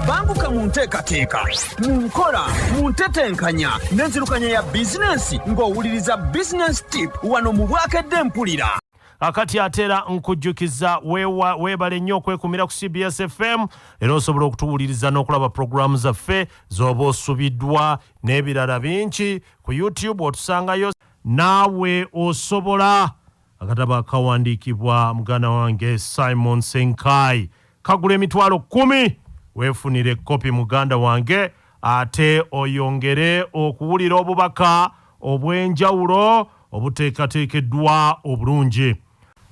banguka mu nteekateeka mu nkola mu ntetenkanya n'enzirukanya ya bizinensi ng'owuliriza bizinensi tip wano mu bwakedde mpulira akati atera nkujjukiza weebale nnyo okwekumira ku cbs fm era osobola okutuwuliriza n'okulaba pulogulaamu zaffe z'oba osubiddwa n'ebirala bingi ku youtube otusangayo naawe osobola Akatabo akawandiikibwa muganda wange Simon Ssenkaayi kagula emitwalo kkumi. Weefunire kkopi muganda wange ate oyongere okuwulira obubaka obw'enjawulo obuteekateekeddwa obulungi.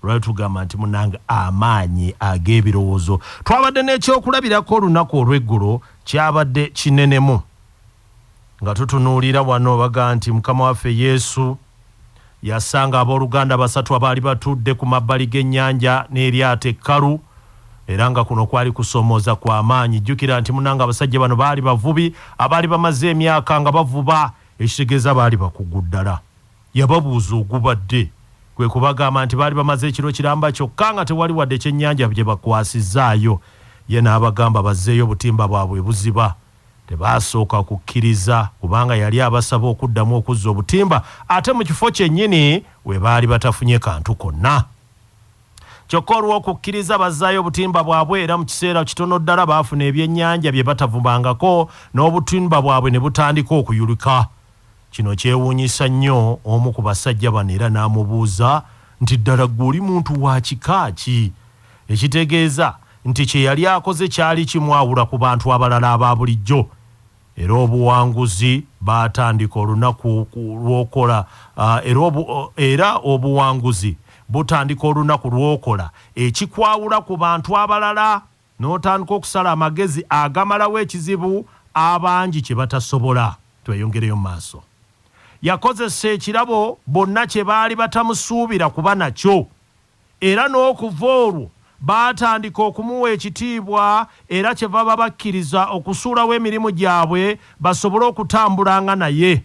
Lwali tugamba nti munnange amaanyi ag'ebirowoozo. Twabadde n'ekyokulabirako olunaku olw'eggulo, kyabadde kinenemu. Nga tutunuulira wano, baga nti Mukama waffe Yesu yasanga ab'oluganda basatu abaali batudde ku mabbali g'ennyanja n'eryato ekkalu, era nga kuno kwali kusoomooza kwa maanyi. Jjukira nti, munnange, abasajja bano baali bavubi abaali bamaze emyaka nga bavuba, ekitegeeza baali bakugu ddala. Yababuuza ogubadde, kwe kubagamba nti baali bamaze ekiro kiramba kyokka nga tewali wadde kyennyanja gye bakwasizzaayo. Ye n'abagamba bazzeeyo obutimba bwabwe ebuziba. Tebaasooka kukkiriza kubanga yali abasaba okuddamu okuzza obutimba ate mu kifo kyennyini we baali batafunye kantu konna. Kyokka olw'okukkiriza bazzaayo obutimba bwabwe era mu kiseera kitono ddala baafuna ebyennyanja bye batavumangako n'obutimba bwabwe ne butandika okuyulika. Kino kyewuunyisa nnyo omu ku basajja bano era n'amubuuza nti, Ddala ggwe oli muntu wa kika ki? ekitegeeza nti kye yali akoze kyali kimwawula ku bantu abalala aba bulijjo era obuwanguzi baatandika olunaku lw'okola era obuwanguzi butandika olunaku lw'okola ekikwawula ku bantu abalala n'otandika okusala amagezi agamalawo ekizibu abangi kye batasobola. Tweyongereyo mu maaso. Yakozesa ekirabo bonna kye baali batamusuubira kuba nakyo. Era n'okuva olwo baatandika okumuwa ekitiibwa era kyevava bakkiriza okusuulawo emirimu gyabwe basobole okutambulanga naye.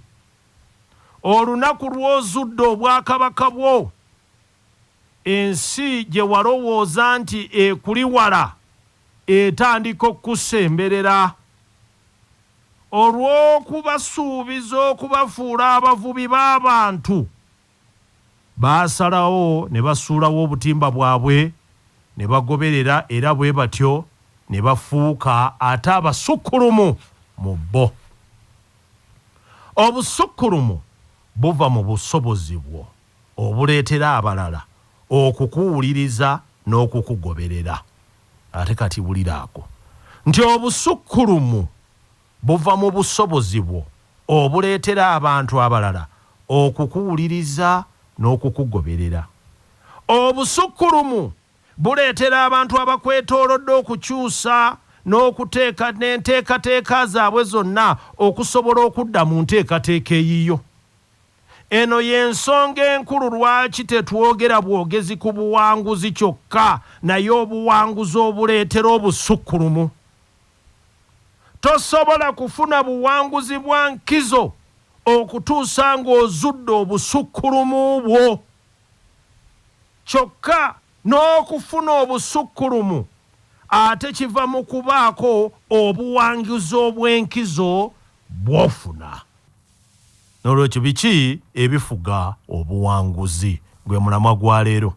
Olunaku lw'ozudde obwakabaka bwo, ensi gye walowooza nti ekuli wala etandika okukusemberera. Olw'okubasuubiza okubafuula abavubi b'abantu. Baasalawo ne basuulawo obutimba bwabwe ne bagoberera era bwe batyo ne bafuuka ate abasukkulumu mu bo. Obusukkulumu buva mu busobozi bwo obuleetera abalala okukuwuliriza n'okukugoberera. Ate kati wulira ako nti obusukkulumu! Buva mu busobozi bwo obuleetera abantu abalala okukuwuliriza n'okukugoberera. Obusukkulumu buleetera abantu abakwetoolodde okukyusa n'okuteeka n'enteekateeka zaabwe zonna okusobola okudda mu nteekateeka eyiyo. Eno y'ensonga enkulu lwaki tetwogera bwogezi ku buwanguzi kyokka naye obuwanguzi obuleetera obusukkulumu. Tosobola kufuna buwanguzi bwa nkizo okutuusa ng'ozudde obusukkulumu bwo. Kyokka n'okufuna obusukkulumu ate kiva mu kubaako obuwanguzi obw'enkizo bw'ofuna. N'olwekyo biki ebifuga obuwanguzi? Gwe mulamwa gwa leero.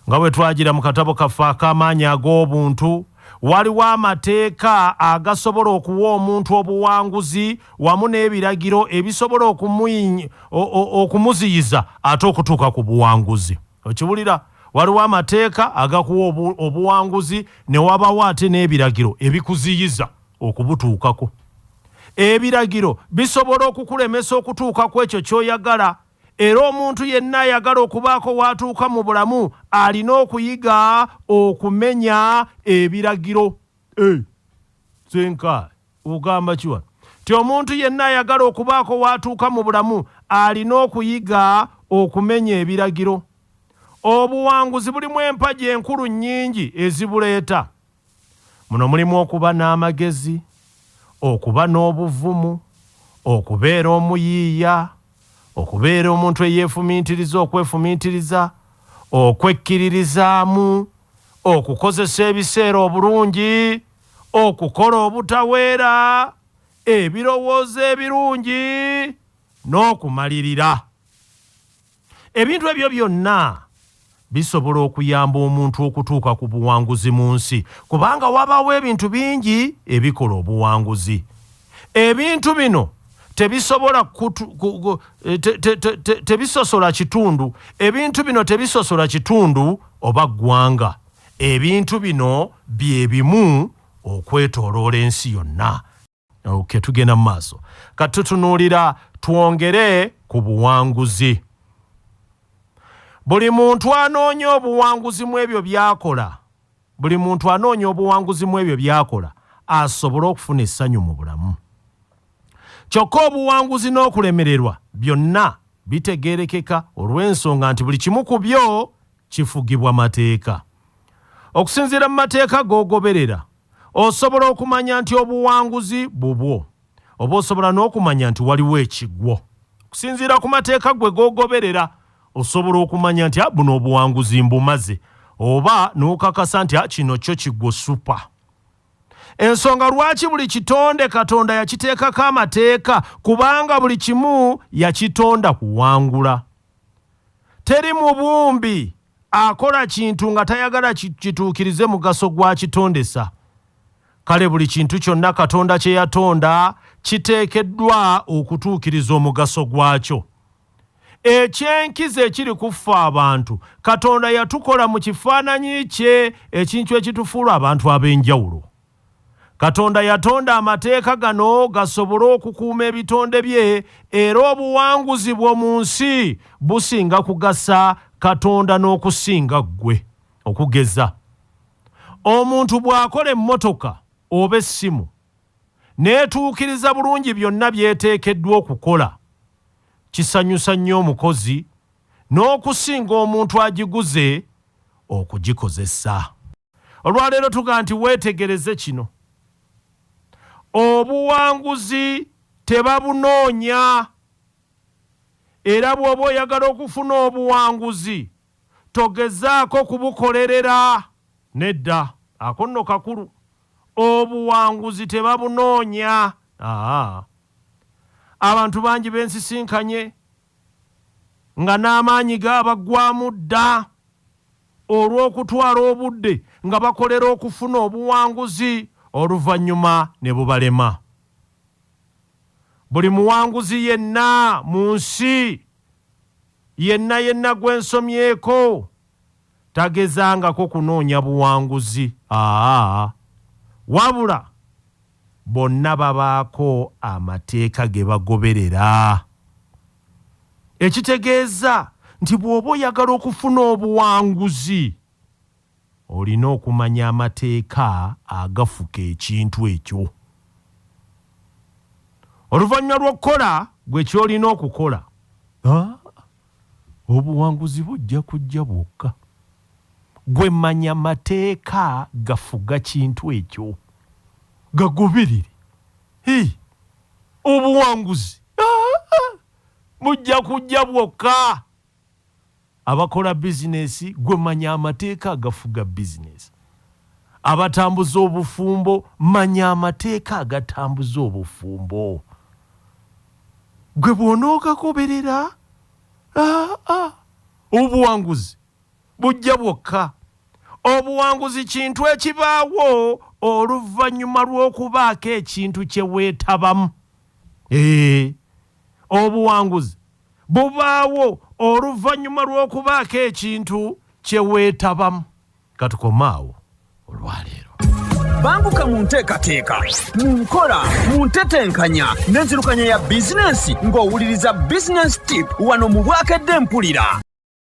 Nga bwe twagira mu katabo kaffe ak'Amaanyi ag'Obuntu, waliwo amateeka agasobola okuwa omuntu obuwanguzi wamu n'ebiragiro ebisobola okumuziyiza ate okutuuka ku buwanguzi. Okiwulira? Waliwo amateeka agakuwa obuwanguzi ne wabaawo ate n'ebiragiro ebikuziyiza. okubutuukako. Ebiragiro bisobola okukulemesa okutuuka ku ekyo ky'oyagala, era omuntu yenna ayagala okubaako w'atuuka mu bulamu alina okuyiga okumenya ebiragiro. Eh, Senka, ogamba ki wano? Ti omuntu yenna ayagala okubaako w'atuuka mu bulamu alina okuyiga okumenya ebiragiro. Obuwanguzi bulimu empagi enkulu nnyingi ezibuleeta. Muno mulimu okuba n'amagezi, okuba n'obuvumu, okubeera omuyiiya, okubeera omuntu eyeefumiitiriza okwefumiitiriza, okwekkiririzaamu, okukozesa ebiseera obulungi, okukola obutaweera, ebirowoozo ebirungi, n'okumalirira. ebintu ebyo byonna bisobola okuyamba omuntu okutuuka ku buwanguzi mu nsi kubanga wabaawo ebintu bingi ebikola obuwanguzi ebintu bino tebisobola eh, tebisosola kitundu ebintu bino tebisosola kitundu oba ggwanga ebintu bino bye bimu okwetoloola ensi yonna Okay, tugenda mu maaso kati tutunuulira twongere ku buwanguzi buli muntu anoonya obuwanguzi mu ebyo byakola buli muntu anoonya obuwanguzi mu ebyo byakola asobole okufuna essanyu mu bulamu kyokka obuwanguzi n'okulemererwa byonna bitegeerekeka olw'ensonga nti buli kimu ku byo kifugibwa mateeka okusinziira mu mateeka g'ogoberera Osobola okumanya nti obuwanguzi bubwo, oba osobola n'okumanya nti waliwo ekigwo. Okusinziira ku mateeka gwe g'ogoberera, osobola okumanya nti ah, buno obuwanguzi mbumaze, oba n'okakasa nti ah, kino kyo kigwo supa. Ensonga lwaki buli kitonde Katonda yakiteekako amateeka, kubanga buli kimu yakitonda kuwangula. Teri mubumbi akola kintu nga tayagala kituukirize mugaso gw'akitondesa. Kale buli kintu kyonna Katonda kye yatonda kiteekeddwa okutuukiriza omugaso gwakyo. Eky'enkizo ekiri ku ffe abantu, Katonda yatukola mu kifaananyi kye, ekintu ekitufuula abantu ab'enjawulo. Katonda yatonda amateeka gano gasobole okukuuma ebitonde bye era obuwanguzi bwo mu nsi businga kugasa Katonda n'okusinga ggwe. Okugeza, omuntu bw'akola emmotoka oba essimu n'etuukiriza bulungi byonna by'eteekeddwa okukola, kisanyusa nnyo omukozi n'okusinga omuntu agiguze okugikozesa. Olwaleero tuga nti weetegereze kino, obuwanguzi tebabunoonya era bw'oba oyagala okufuna obuwanguzi togezaako kubukolerera. Nedda, ako nno kakulu. Obuwanguzi tebabunoonya. Aa, abantu bangi bensisinkanye nga n'amaanyi gaabaggwamu dda. olw'okutwala obudde nga bakolera okufuna obuwanguzi oluvannyuma ne bubalema. Buli muwanguzi yenna mu nsi yenna yenna gwe nsomyeko tagezangako kunoonya buwanguzi, aa, wabula. Bonna babaako amateeka ge bagoberera. Ekitegeeza nti bw'oba oyagala okufuna obuwanguzi, olina okumanya amateeka agafuka ekintu ekyo. Oluvannyuma lw'okukola ggwe ky'olina okukola, obuwanguzi bujja kujja bwokka. Gwe manya mateeka gafuga kintu ekyo. Gagoberere. Hii. Obuwanguzi haa bujja kujja bwokka. Abakola business gwe manya amateeka agafuga business. Abatambuza obufumbo manya amateeka agatambuza obufumbo. Gwe bwonoogagoberera haa obuwanguzi. bujja bwokka. Obuwanguzi kintu ekibaawo oluvannyuma lw'okubaako ekintu kye weetabamu. Eeh, obuwanguzi bubaawo oluvannyuma lw'okubaako ekintu kye weetabamu. Ka tukome awo olwa leero. Banguka mu nteekateeka, mu nkola, mu ntetenkanya n'enzirukanya ya bizinensi ng'owuliriza Business Tip wano mu Bwakedde Mpulira.